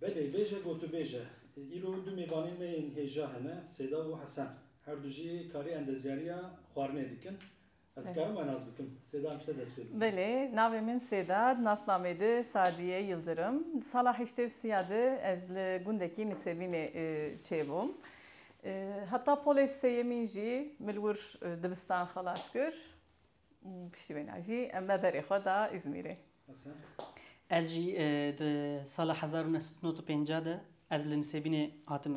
Belê, bêje gotûbêj e. Îro du mêvanên me yên hêja hene, Sêda û Hesen. Her du jî karê endezyariya xwarinê dikin. Ez dikarim we nas bikim? Sêda em ji te dest pê bikin. Belê, navê min Sêda, di nasnameyê de Sadiye Yildirim. Di sala heştê û sîya de ez li gundekî Nisêbînê çêbûm. Heta polê sêyemîn jî min li wir dibistan xelas kir. Piştî wê na jî em me berê xwe da Îzmîrê. Ez jî di sala hezar û neh sed û nod û pêncah de ez li Nisêbînê hatim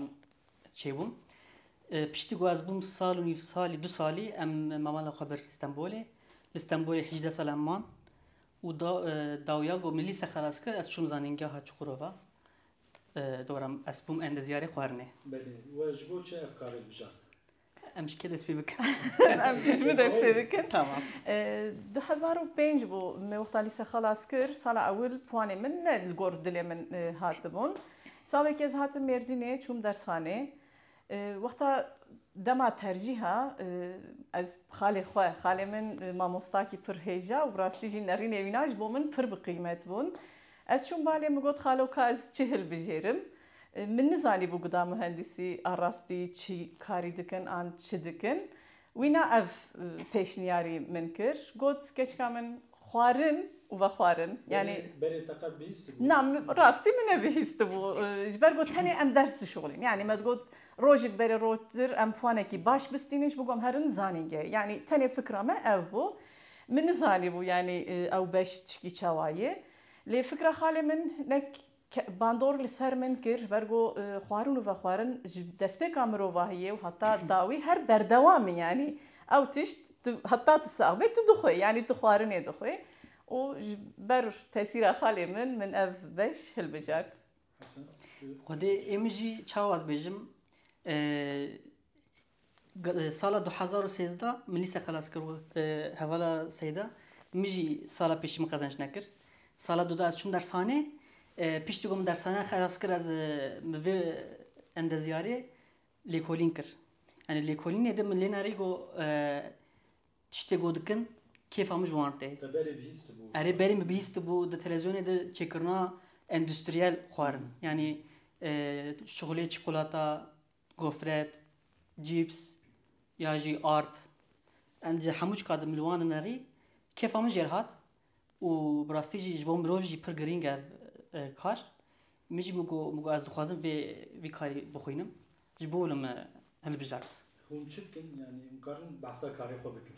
çêbûm. Piştî ku ez bûm sal û nîv salî du salî em mamala xwe bir Stenbolê. Li Stenbolê hîjdeh sal em man û da dawiya ku min lîse xelas kir ez çûm zanîngeha Çukurova. Dora ez bûm endezyarê xwarinê. Belê. We ji bo çi ev karê bijart? Em ji kê dest pê bikin? Em ji min dest pê bikin. Tamam. Du hezar û pênc bû me wexta lîse xelas kir. Sala ewil puanê min ne li gor dilê min hatibûn. Salekê ez hatim Mêrdînê çûm dersxanê. Wexta dema tercîha ez xalê xwe, xalê min mamostakî pir hêja û bi rastî jî nerînê wîna ji bo min pir bi qîmet bûn. Ez çûm balê min got xalo ka ez çi hilbijêrim. Min nizanîbû guda muhendîsî a rastî çi karî dikin an çi dikin. Wîna ev pêşniyarî min kir. Got keçika min xwarin û vexwarin. Yanî. Berê te qet bihîstibû? Na, rastî min nebihîstibû. Ji ber ku tenê em ders dişuxulîn. Yanî me digot rojik berê rojtir em puanekî baş bistînin ji bo ku em herin zanîngehê. Yanî tenê fikra me ev bû. Min nizanîbû yanî ew beş tişkî çawa yê. Lê fikra xalê min ne Bandor li ser min kir ji ber ku xwarin û vexwarin ji destpêka mirovahiyê û heta dawî her berdewam in. Yanî ew tişt heta tu sax bê tu dixwî yanî tu xwarinê dixwî û ji ber tesîra xalê min min ev beş hilbijart. Xwedê ê min jî çawa ez bêjim Sala du hezar û sêzdeh min lîse xelas kir û hevala seyda min jî sala pêşî min qezenç nekir. Sala du de ez çûm dershanê. Piştî ku min dershaneya xelas kir ez bi vê endezyarê lêkolîn kir. Yanî lêkolînê de min lê nerî ku tiştê ku dikin kêfa min ji wan tê. Te berê bihîstibû? Erê berê min bihîstibû di televîzyonê de çêkirina endustriyel xwarin. Yanî şixulê çikolata, gofret, cîps ya jî art em ji hemû çika dimilwanin erî kêfa min jêr hat û bi rastî jî ji bo mirov jî pir girîng e ev kar. Min jî got ku ez dixwazim vê vî karî bixwînim ji bo min hilbijart. Hûn çi dikin yanî hûn karin behsa karê xwe bikin?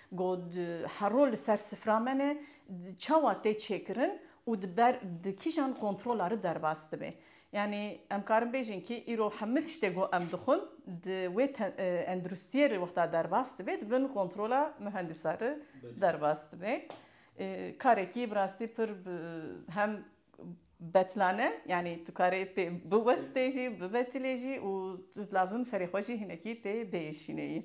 Got, Hero li ser sifra me ne, çawa tê çêkirin û di ber di kîjan kontrola ri derbas dibe. Yanî em karin bêjin kî îro hemû tiştê ku em dixwin di wê tenduristiyê ri wexta derbas dibe di bin kontrola mihendisa ri derbas dibe. Karekî bi rastî pir hem betlan e, yanî tu karê pê biwestê jî, bibetilê jî û tu lazim serê xwe jî hinekî pê bêyişînê yî.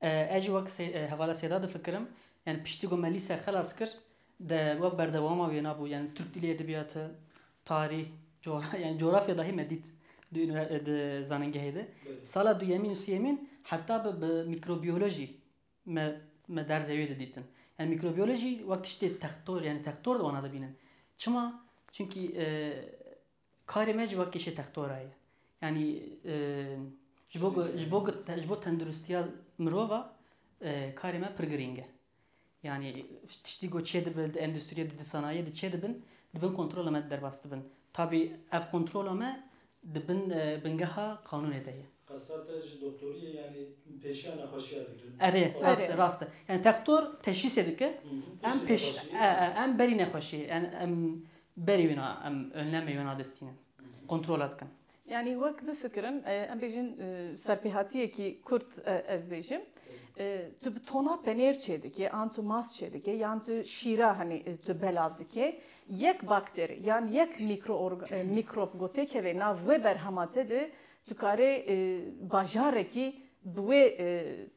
Ez jî wek hevala Sêda difikirim. Yani piştî ku me lîse xelas kir de wek berdewama wê nabû. Yani Tirk dilê, edebiyatı, tarîh, coğrafya yani coğrafya dahi me dît di, di zanîngehê de. Sala duyemîn û sêyemîn heta bi, bi mikrobiyolojî me me derzê wê didîtin. Yani mikrobiyolojî wek tiştê textor yani textor di wana dibînin. Çima? Çimkî e, Karê me ji we kêşê textora ye. Yanî ji bo ku ji bo ku ji bo tendirustiya mirov e karê me pir girîng e. Yanî tiştî ku çêdibin di endustriyê di sanayiyê de çêdibin di bin kontrola me de derbas dibin. Tabî ev kontrola me di bin bingeha qanûnê de ye. Qesa te ji doktoriyê yanî pêşiya nexweşiya dikin? Erê, rast e, rast e. Yanî textor teşhîsê dike, em pêş em berî nexweşiyê. Em Berî wina em önleme wina destînin, kontrola dikin. Yanî wek bifikirin em bêjin serpêhatiyekî kurt ez bêjim tu bi tona penêr çêdikê an tu mas çêdikê yan tu şîra henî tu belav dikê yek bakteri yan yek mîkrop ku têkeve nav wê berhema te de tu karê bajarekî bi wê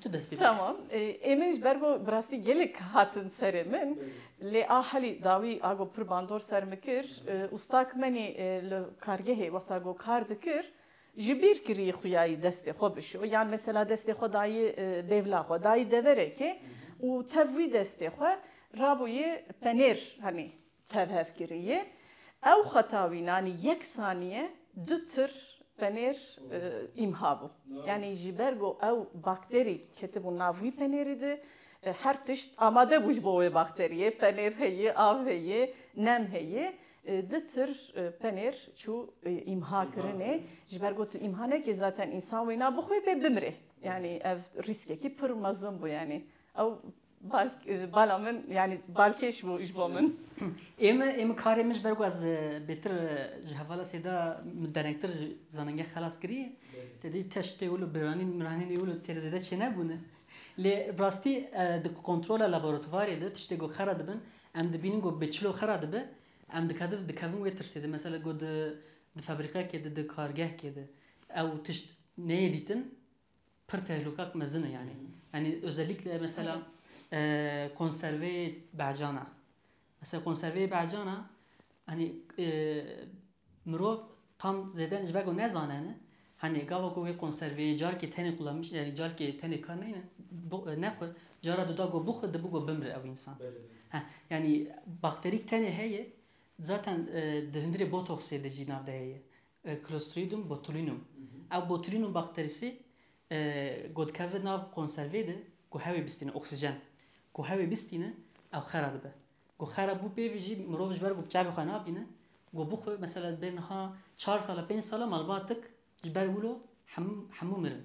Tu dest pê bike. Tamam. Êmên ji ber ku bi rastî gelek hatin serê min lê a helî dawî a ku pir bandor ser min kir û stak me nê li kargehê wexta ku kar dikir ji bîr kirî xuyayî destê xwe bişo yan mesela destê xwe dayî bêvla xwe dayî deverekê û tev wî destê xwe rabûyê penêr henî tevhevkiriyê ew xeta wî nanî yek sanîye du tir penêr îmha bû. Yanî ji ber ku ew bakterî ketibû nav wî penêrî di her tişt amade bû ji bo wê bakteriyê penêr heye, av heye, nem heye du tir penêr çû îmha kirinê ji ber ku tu îmha nekî zaten însan wê na bixwe pê bimrê. Yanî ev rîskekî pir mezin bû yanî ew Bal bala min yani balkêş bû ji bo min. Ême ême karê min ji ber ku ez bêtir ji hevala sêda min derengtir ji zanengeh xelas kiriye. Te dî teş tê wilo biranî miranî nê wilo têre zêde çênebûne. Lê rastî di kontrola laboratuvarê de tiştê ku xera dibin em dibînin ku bi çilo xera dibe em dikevin dikevin wê tirsê de mesela ku di di febrîqekê de di kargehkê de ew tişt neyê dîtin. pir tehlûkak mezin e yanî. Yanî özellikle mesela konserveyê behcana. Mesela konserveyê behcana hani mirov tam zêde ji ber ku nezane ne hani gava ku wê konserveyê carkê tenê kullanmış yani carkê tenê kar neyne nexwe cara dida ku bixwe dibû ku bimre ew însan. Heh yani bakterîk tenê heye zaten di hundirê botoksê de jî nav de heye. Clostridium botulinum, ev botulinum bakterîsê ku dikeve nav konservê de ku hewê bistîne, oksîjen ku hewê bistîne ew xera dibe. Ku xera bû pê ve jî mirov ji ber ku bi çavê xwe nabîne ku bixwe mesela bê niha çar sala pênc sala malbatik ji ber wilo hemû hemû mirin.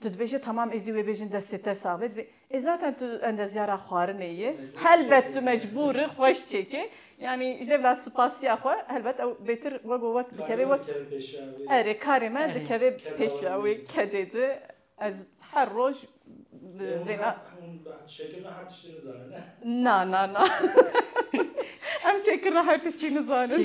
Tu dibêje tamam êdî wê bêjin destê te sax bê. Ê zaten tu endezyara xwarinê yê. Helbet tu mecbûr î xweş çêkê. Yanî ji dêvla spasiya xwe helbet ew bêtir wek û wek dikeve wek. Erê karê me dikeve pêşiya wê kedê di. Ez her roj bi vêna. Çêkirina her tiştî nizanin e? Na na na. Em çêkirina her tiştî nizanin.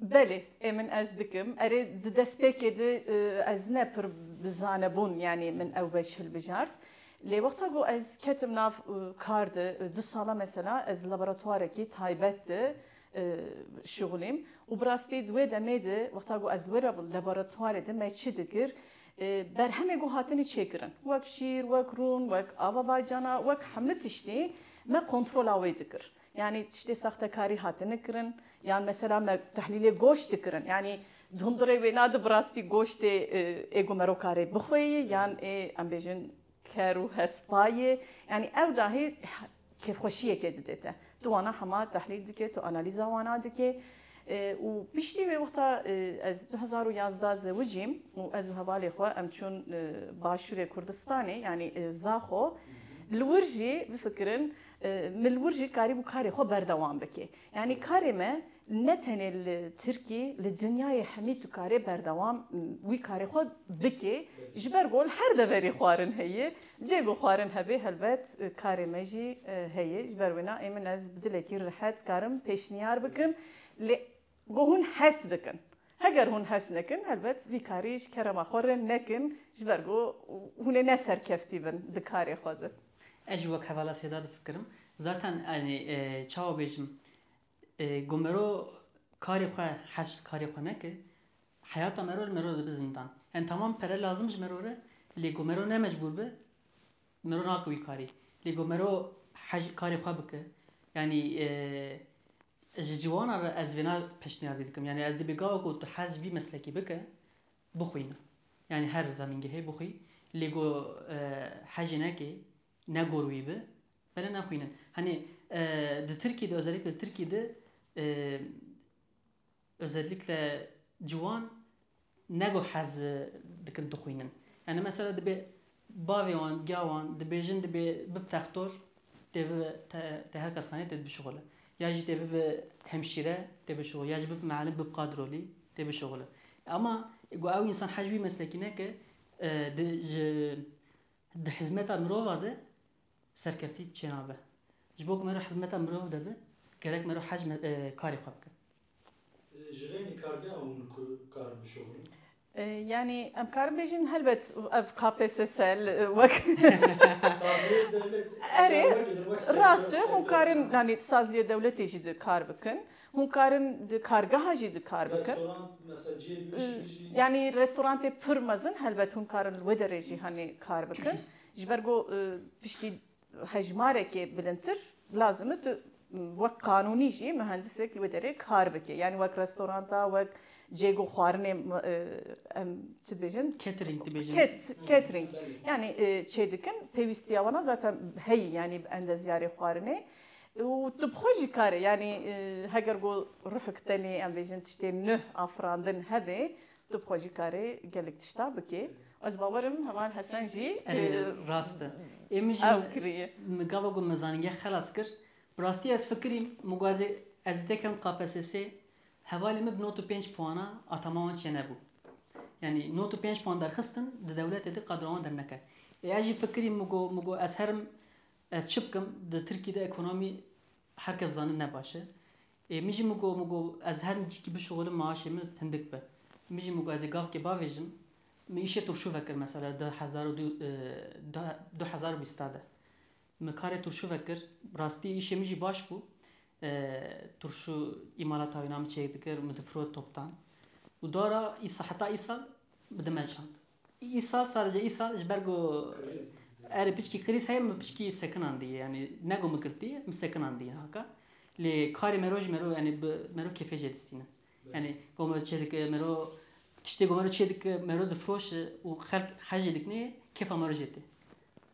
Belê, ê min ez dikim. Erê, di destpêkê de ez ne pir bi zane bûn yanî min ew beş hilbijart. Lê wexta ku ez ketim nav kar de, du sala mesela ez li laboratwarekî taybet de şixulîm û bi rastî di wê demê de wexta ku ez li wê laboratwarê de me çi dikir, berhemê ku hatinî çêkirin wek şîr, wek rûn, wek ava bacana, wek hemû tiştî me kontrola wê dikir. Yanî tiştê saxtekarî hatine kirin yan mesela me tehlîlê goşt dikirin yanî hundirê wê na di bi rastî goştê ê ku merokarê bixwe yê yan ê em bêjin ker û hespa yê yanî ew dahê kêfxweşiyekê dide te. Tu wana hema tehlîl dikê, tu analîza wana dikê û piştî wê wexta ez du hezar û yazdeh zewicîm û ez û hevalê xwe em çûn başûrê Kurdistanê yanî Zaxo li wir jî bifikirin Min li wir jî karîbû karê xwe berdewam bike. Yanî karê me ne tenê li Tirkî, li dinyayê hemî tu karê berdewam wî karê xwe bike. Ji ber ku li her deverê xwarin heye, cih ku xwarin hebe helbet karê me jî heye. Ji ber wina ê min ez bi dilekî rihet karim pêşniyar bikim. Lê Ku hûn hes bikin. Heger hûn hes nekin, helbet vî karî ji kerema xwe rind nekin ji ber ku hûn ê ne serkeftî bin di karê xwe de. Ez jî wek hevala Sêda difikirim. Zaten yanî çawa bêjim, ku mero karê xwe hes ji karê xwe nekir, heyata mero li mero dibe zindan. Yanî temam pere lazim ji mero re, lê ku mero ne mecbûr be, Me ro nake wî karî. Lê got me ro hej karê xwe bike. Yanî ji ciwanan re ez vêna pêşniyazî dikim. Yanî ez dibê gava ku tu hez ji vî meslekî bike, bixwîne. Yanî her zanîngehê bixwî. Lê got hejê nekê, ne gor wî bi, belê nexwînin. Hanê di Tirkiyê de, özellikle li Tirkiyê de Özellikle ciwan ne ku hez dikin dixwînin. Yanî mesela dibê bavê wan, giya wan dibêjin dibê bib textor tê bibe tê her kesanî tê bişuxile. Ya jî tê bibe hemşîre tê bişuxile. Ya jî bib miallim, bib qadrolî tê bişuxile. Ema ku ew însan hez ji wî meslekî neke di ji di hizmeta mirova de Serkeftî çênabe. Ji bo ku me re hizmeta mirov de be, gerek me re hecm karê xwe bikin. Ji xênî kargeha hûn ku karin bişorin? Yanî em karin bêjin helbet ev KPSS wek. Saziyê dewletê. Erê, rast e hûn karin yanî di saziyê dewletê jî di kar bikin. Hûn karin di kargeha jî di kar bikin. Restorant mesela cihê bihuşkî jî. Yanî restorantê pir mezin helbet hûn karin li wê derê jî hanî kar bikin. Ji ber ku piştî hejmarekê bilindtir lazim e tu wek qanûnî jî muhendisek li wê derê kar bike. Yanî wek restoranta, wek cêg û xwarinê em çi dibêjin? Catering dibêjin. Catering. Yanî çê dikin pêwîstiya wan a zaten heyî yanî bi endezyarê xwarinê û tu bi xwe jî kare yanî heger ku ruhik tenê em bêjin tiştê nuh a firandin hebe Tu bi xwe jî karê gelek tişta bikê. Ez bawer im heman Hesen jî Rast e. Ê min jî ew kiriye. Min gava ku me zanîngeh xelas kir. Bi rastî ez fikirî min ku ez ê ez ê tekem KPSS'ê hevalê min bi nod û pênc puana Atama wan çêne bû. Yanî nod û pênc puan derxistin di dewletê de qadro wan derneke. Ê ez jî fikirî min ku min ku ez herim ez çi bikim di Tirkî de ekonomî her kes zanin ne baş e. Ê min jî min got, min got ez her min çîkî bişuxilim maaşê min hindik be. Min jî min got ez ê gavkê bavêjim. Min îşê turşû vekir mesela di hezar û du hezar û bîsta de. Min karê turşû vekir. Bi rastî îşê min jî baş bû. Turşû îmalata wî na min çêk dikir, min difirot toptan. Û dara îsal heta îsal min dimeşand. Îsal sadece îsal ji ber ku erê piçkî krîz heye min piçkî sekinan dî yanî ne ku min girtî min sekinan dî haka lê karê me ro ji me ro yanî bi me ro kêfê jê distîne yanî ku me çê dike me ro tiştê ku me ro çê dike me ro difiroşe û xelk hej jê dikinê kêfa me ro jê tê.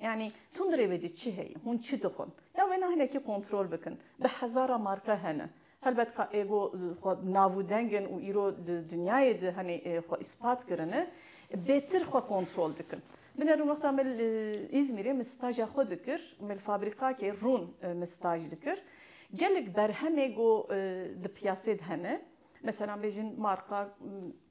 Yanî tundrê ve dî çi heye, hûn çi dixwin? Ya wêna hinekî kontrol bikin. Bi hezara marka hene. Helbet ka êgo xwe nav û deng in û îro di dinyayê de henê xwe îspat kirine, bêtir xwe kontrol dikin. Bine rûn wexta me li Îzmîrê min staja xwe dikir, me li fabrîkakê rûn min staj dikir. Gelek berhemê got di piyasê de hene. Meselan bêjin marka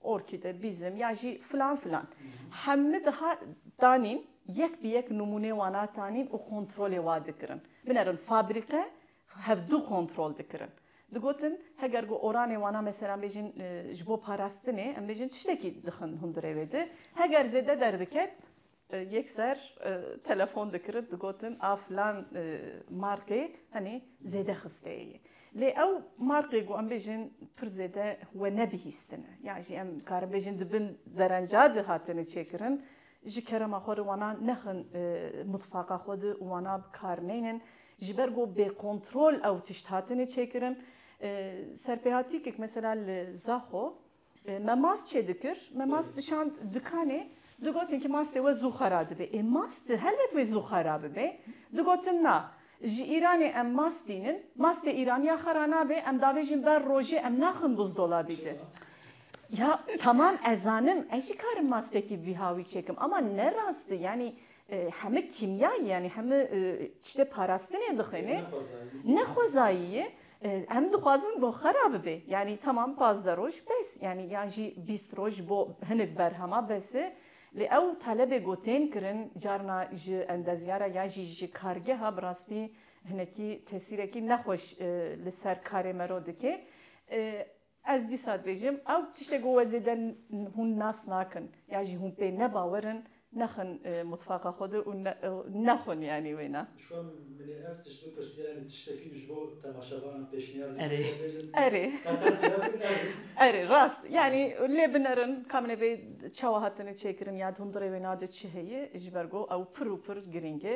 orkîde, bîzim ya jî filan filan. Hemû diha danîn yek bi yek nimûnê wan a tanîn û kontrolê wa dikirin. Binerin fabrîke hevdû kontrol dikirin. Digotin heger ku oranê wana meselan bêjin ji bo parastinê em bêjin tiştekî dixin hundirê wê di. Heger zêde derdiket Yek ser telefon dikirin digotin a filan markê henî zêde xisteyê. Lê ew markê ku em bêjin pir zêde we nebihîstine. Ya jî em dikarin bêjin di bin derenca de hatine çêkirin. Ji kerema xwe re wana nexin mutfaqa xwe de û wana bi kar neynin. Ji ber ku bêkontrol ew tişt hatine çêkirin. Serpêhatîkek mesela li Zaxo Me mast çê dikir, me mast dişand dikanê, digotin ki mastê we zû xera dibe. Ê mast di helbet wê zû xera bibe. Digotin na, ji Îranê em mast tînin, mastê Îranî ya xera nabe, em davêjin ber rojê em naxin buzdolabî di. Ya tamam ez zanim, ez jî karim mastekî vîha wî çêkim ama ne rast i yanî heme kîmyayî yanî heme tiştê parastinê dixwêne ne xwezayî ye. Em dixwazin bo xwe re bibe. Yanî temam pazdeh roj bes yanî yan jî bîst roj bo hinek berhema bes e. Lê ew talebê ku tên kirin carna ji endezyara yan jî ji kargeha bi rastî hinekî tesîrekî nexweş li ser karê me re dike. Ez dîsa dibêjim ew tiştê ku we zêde hûn nas nakin yan jî hûn pê nebawer in nexin mutfaqa xwe de û nexwin yanî wêne. Şwan minê ev tişt bipirsiya yanî tiştekî min ji bo temaşevanan pêşniyaz bike ez dibêjim erê erê rast yanî lê binerin ka min ê bê çawa hatine çêkirin ya di hundirê wêna de çi heye ji ber ku ew pir û pir girîng e.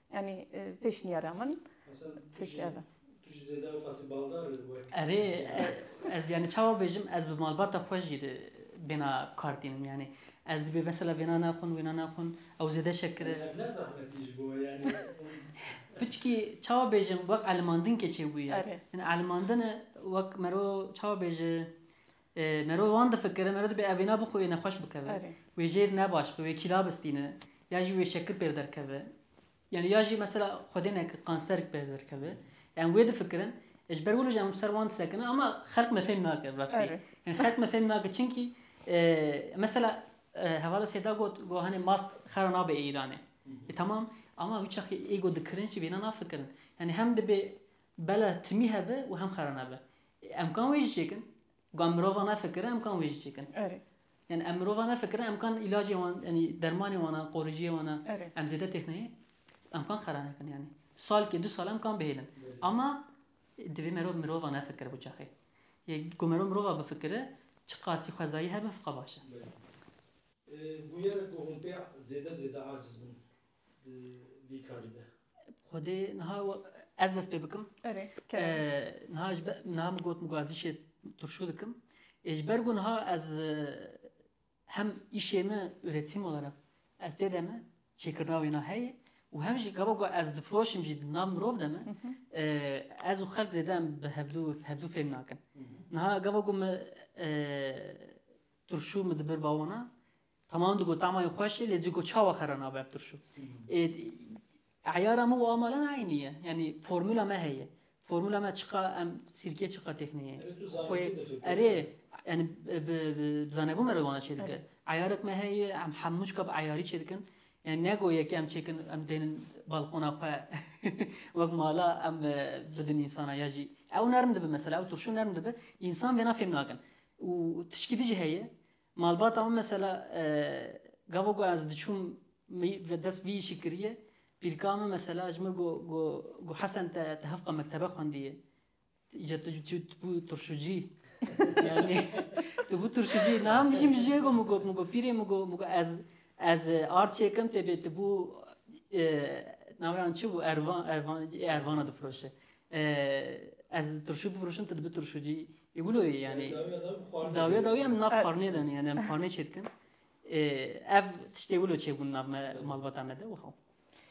Yanî pêşniyara min pişt ev e. Tu jî zêde dixwazî baldar wek. Erê ez yanî çawa bêjim ez bi malbata xwe jî bêhna kar tînim yanî ez dibê mesela vêna naxwin wêna naxwin ew zêde şekir e. Ev ne zehmetî ji bo yanî. Piçkî çawa bêjim wek elimandin keçê bûye. Elimandin wek mero çawa bêje Merov wan difikire, merov dibe ev wêna bi xwe wê nexweş bikeve, wê jêr ne baş be, wê kîla bistîne, ya jî wê şekir pêr derkeve. Yanî ya jî mesela xwedê neke kanser pêr derkeve. Em wê difikirin. Ji ber wilo jî em ser wan disekinin ama xelk me fêm nake bi rastî. Yanî xelk me fêm nake çinkî mesela hevala Sêda got ku hanê mast xera nabe ê Îranê. Ê temam ama wî çaxê ê ku dikirin jî wêna nafikirin. Yanî hem dibê bela timî hebe û hem xera nebe. Em kan wê jî çêkin. Ku em mirova me fikire em kan wê jî çêkin. Erê. Yani em mirova me fikire em kan ilacê wan yani dermanê wan a qoriciyê wan a em zêde têxneyê em kan xera nekin yani. Salkê du sal em kan bihêlin. Ama divê merov mirova nefikire bo çaxê. Yê ku merov mirova bifikire çi qasî xwezayî hebe fiqa baş e. Bûyere ku hûn pê zêde zêde aciz bin. di vî karî de. Xwedê niha ez dest pê bikim. Niha ji niha min got min got ez îşê turşû dikim. Ê ji ber ku niha ez hem îşê min üretim olarak ez tê de me çêkirina wêna heye û hem jî gava ku ez difiroşim jî di nav mirov de me ez û xelk zêde em bi hevdû hevdû fêm nakin. Niha gava ku min turşû min dibir bawona Tamam digo tamayê xweş e lê digo çawa xera nabe ev tirşo. Ê eyara me û a malan eynî ye. Yanî formula me heye. Formula me çiqa em sîrkê çiqa têxine ye. Xwe erê yanî bi zanebû me re wana çêdike. Eyarek me heye em hemû çiqa bi eyarî çêdikin. Yani nego yekê em çêkin em dênin balkona xwe wek mala em bidin însana ya jî ew nerm dibe mesela ew turşu nerm dibe însan vêna fêm nakin û tişkî di jî heye Malbata min mesela gava ku ez diçûm dest vî îşî kiriye, pîrka min mesela ji min got ku Hesen te ti hevqa mektebe xwendiye, îca tu tu bû turşucî yanî tu bû turşucî niha min jî min jê got min got min got pîrê min got ez ez ard çêkim tê bê tu bû naweyan çi bû ervan ervan ervana difiroşe. Ez turşî bifroşim tu dibi turşî cî. Ê wilo yê yanî dawiya dawî em nav xwarinê de ne yanî em xwarinê çê dikin. Ev tiştê wilo çêbûn nav me malbata me de û xew.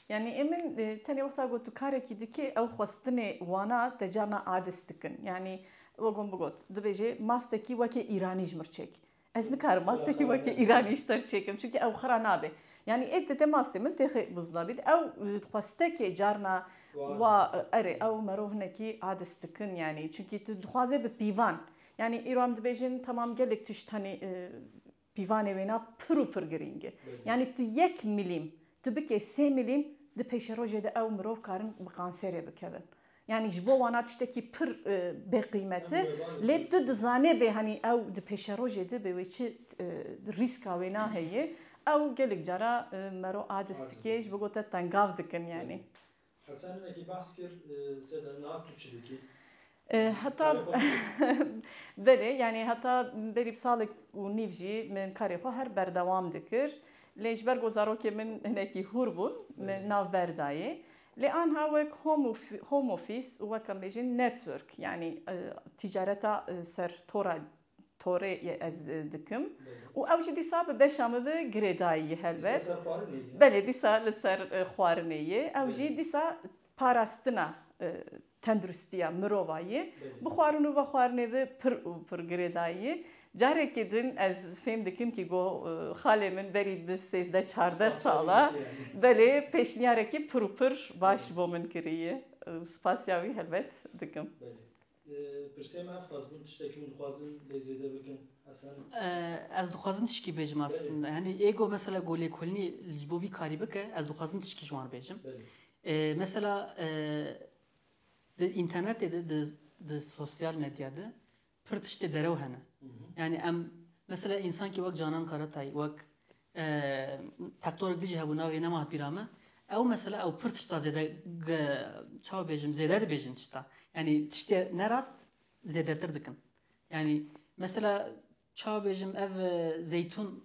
Yani emin tenê wexta got tu karekî dikî ew xwestinê wana te carna adis dikin. Yani we gon bigot dibêjê mastekî wekê îranî ji mir çêk. Ez nikarim mastekî wekî îranî ji ter çêkim çunkî ew xira nabe. Yanî ê tê mastê min tê xê buzda bît ew xwe stekê carna wa erê ew merov hinekî adis dikin yanî çunkî tu dixwazê bi pîvan yanî îro em dibêjin temam gelek tişt tenê pîvanê wêna pir û pir girîng e. Yanî tu yek milîm tu bikê sê milîm di pêşerojê de ew mirov karin bi kanserê bikevin. Yanî ji bo wana tiştekî pir bêqîmet e. Lê tu dizanê bê hanî ew di pêşerojê de bê wê çi rîska wêna heye. Ew gelek cara mero adis dike ji bo ku te tengav dikin yanî. Hesen hinekî behs kir sêde niha tu çi dikî? Heta belê yanî heta berî bi salek û nîv jî min karê xwe her berdewam dikir. Lê ji ber ku zarokên min hinekî hûr bûn min navber dayê. Lê anha wek home office û wek em bêjin network yanî tîcareta ser tora torê yê ez dikim û ew jî dîsa bi beşa min ve girêdayî yê helbet. Belê dîsa li ser xwarinê yê ew jî dîsa parastina tenduristiya mirova yê bi xwarin û vexwarinê ve pir û pir girêdayî yê. Carekî din ez fêm dikim kî got xalê min berî bi sêzdeh çardeh sal e belê pêşnîyarekî pir û pir baş bo min kirîye û spasîya wî helbet dikim. Belê. Pirsê me ev xas bûn tiştekî hûn dixwazin lê zêde bikin Hesen? Ez dixwazim tişkî bêjim Hesen. Henî ê got mesela ku lêkolînî ji bo vî karî bike ez dixwazim tişkî ji wan bêjim. Belê. Mesela di înternetê de di sosyal medya de pir tiştê derew hene. Yanî em mesela însankî wek Canan Karatay wek tektorek dijî hebû navê nema hat bîra me ew mesela ew pir tişta zêde çawa bêjim zêde dibêjin tişta. Yanî tiştê nerast zêdetir dikin. Yanî mesela çawa bêjim ev zeytûn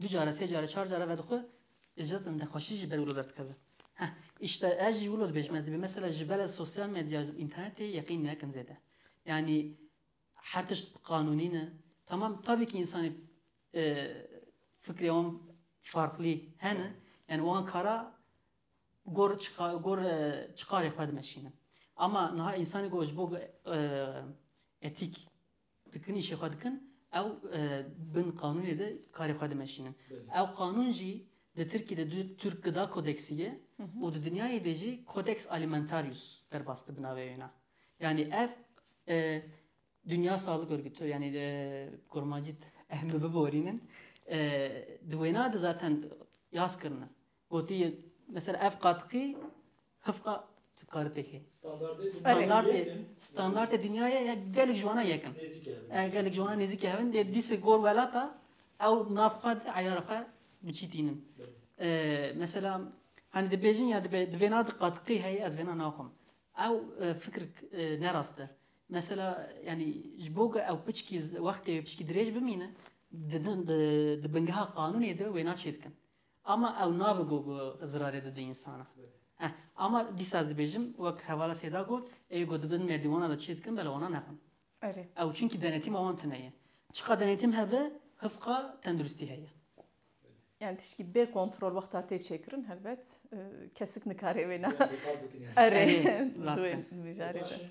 Du care, sê care, çar care vedixwe îcret inde xweşî jî ber wilo derdikeve. Heh, îşte ez jî wilo dibêjim, ez dibê mesela ji ber ez sosyal medya û înternetê yeqîn nekin zêde. Yanî her tişt bi qanûnî ne. Tamam tabî kî însanê fikrê wan farklî hene, yanî wan kara gor gor çiqarê xwe dimeşînin. Ama niha însanê ku ji bo etîk Tikinîşê xwe dikin ew bin qanûnê de karê xwe dimeşînin. Ew qanûn jî di Tirkî de du Turk Gıda Kodeksi ye û di dinyayê de jî Codex Alimentarius derbas dibi navê wê na. Yanî ev Dünya Sağlık Örgütü yanî kurmancî em biborînin di wêna de zaten yaz kirine. Gotiye mesela ev qatiqî hifqa dikare pêk hê. Standartê standartê dinyayê ya gelek ji wana yekin. Ev gelek ji wana nêzîkê hevin dê dîsê gor welata ew nav xwe di eyara xwe bi çî tînin. Mesela hani dibêjin ya dibe di vêna di qatiqî heye ez vêna naxwim. Ew fikir nerast e. Mesela yani ji bo ku ew piçkî wextê wê piçkî dirêj bimîne di di di bingeha qanûnê de wêna çêdikin. Ama ew nabe ku ku zirarê dide însanan. Eh, ama dîsa ez dibêjim, wek hevala Sêda got, ê ku dibin merdîwana de çê dikin bela wana nexwin. Erê. Ew çinkî denetîma wan tune ye. Çiqas denetîm hebe, hifqa tenduristî heye. Yani tiştî bê kontrol wexta tê çêkirin helbet kesik nikare wêne. Erê, dibêjin mijarê de.